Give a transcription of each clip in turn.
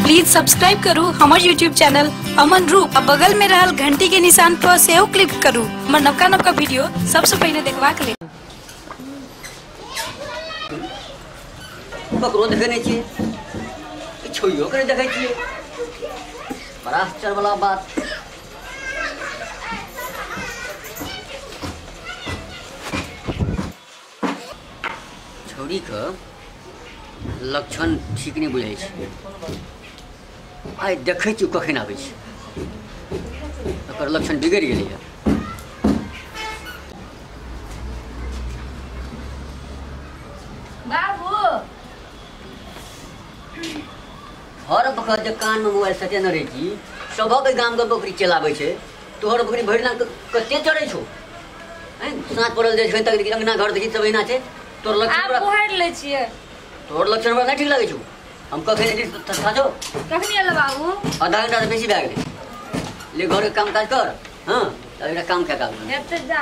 Please subscribe करू हमर YouTube channel Aman Roop आ बगल में रहल घंटी के निशान पर सेहो क्लिक करू हमर नवका नवका वीडियो सबसे पहले देखबाक लेल ककरो देखै नहि छियै ई छोइयो के नहि देखै छियै बड़ा आश्चर्य वाला बात छौड़ीके लक्षण ठीक नहि बुझै छै आइ देखै छी कखन आबै छै ओकर लक्षण बिगड़ि गेलैए बाबू हर बखत जे कानमे मोबाइल सटेने रहै छी सभक गामके बकरी चलाबै छै तोहर अखनी भरि दिन कते चढ़ै छौ हैं साँझ पड़ल जाइ छै तक देखी अंगना घर देखी सब अहिना छै तोर लक्षण आब हमरा बुहारि लै छियै तोर लक्षण हमरा नहि ठीक लागै छौ हम कखन एलियै तऽ तथा छौ कखनी एल बाबू आधा घंटा से बेसी भए गेलै ले घर के काम काज कर हाँ अब एकटा काम कए काज हेब तऽ जा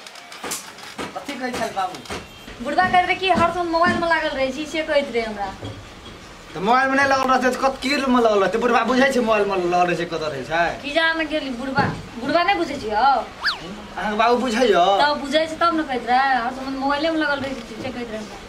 कथी कहै छल बाबू बुढ़बा कहैत रहे कि हर समय मोबाइल में लागल रहे छी से कहैत रहे हमरा तऽ मोबाइल मे नहि लगल रहतै तऽ कत की मे लगल रहतै बुढ़बा बुझै छै मोबाइल मे लगल रहै छै कतऽ रहै छै कि जान गेली बुढ़बा बुढ़बा नहीं बुझे छियो अहाँके बाबू बुझैयो तब बुझे छै तब ने कहैत रहे हर समय मोबाइले में लगल रहे छी से कहैत रहे हमरा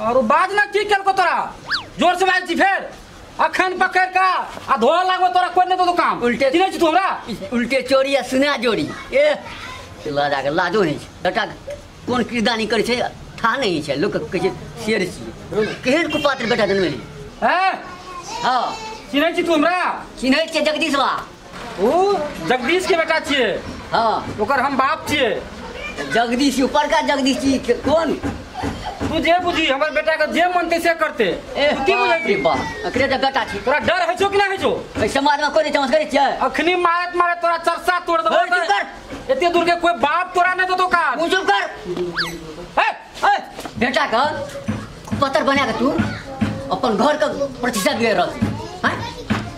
और बाद में की केलको तोरा जोर से बाज छी फेर अखन पकड़ का आ धोआ लागो तोरा कोई नहीं तो काम उल्टे चिने छी तोरा उल्टे चोरी आ सुना जोड़ी ए चला जाके लाजो नहीं छै बेटा कोन किरदानी करे छै था नहीं छै लोक कहे छै शेर छी केहन कुपात्र बेटा जन्मे है हां चिने छी तू हमरा चिन्है छियै जगदीश बा ओ जगदीश के बेटा छिए हाँ ओकर हम बाप छिए जगदीश ऊपर का जगदीश जी के कौन तू जे बुझी हमर बेटा के जे मन तैसे करते ए तू की बाप बुझै रे छी बाप अकरे तो बेटा छी तोरा डर है छो कि ना है छो ए समाज में कोई चमत्कार करे छै अखनी मारत मारत तोरा चरसा तोड़ देबो ओए, चुप कर। एते दूर के कोई बाप तोरा नहीं देतो का तू चुप कर ए ए बेटा का पत्थर बना के तू अपन घर का प्रतिष्ठा बिगड़ रहा छी हाँ?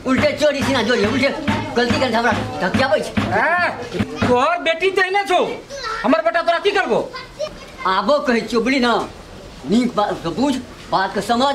उल्टे चोरी सीना जोड़ी उल्टे गलती कर हमरा धकियाबै छै हाँ, तोहर बेटी तो ना छो हमर बेटा तोरा की करबो आबो कहै छियो बुझली ना नीक बात के बुझ बात के समझ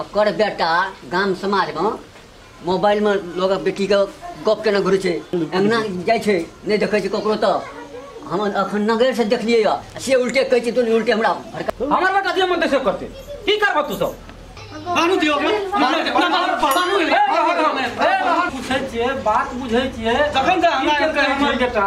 ओकर बेटा गाम समाजमे मोबाइलमे लोक बेटीके गप केना घुरै छै अङ्गना जाइ छै नहि देखै छै ककरो तऽ हम अखन नगर से देखलियै या से उल्टे कहै छै तू उल्टे हमरा हमर बेटा जे मन से करते की करबो तू सब बानू दियो बानू हे पूछै छियै बात बुझै छियै जखन हमरा हमर बेटा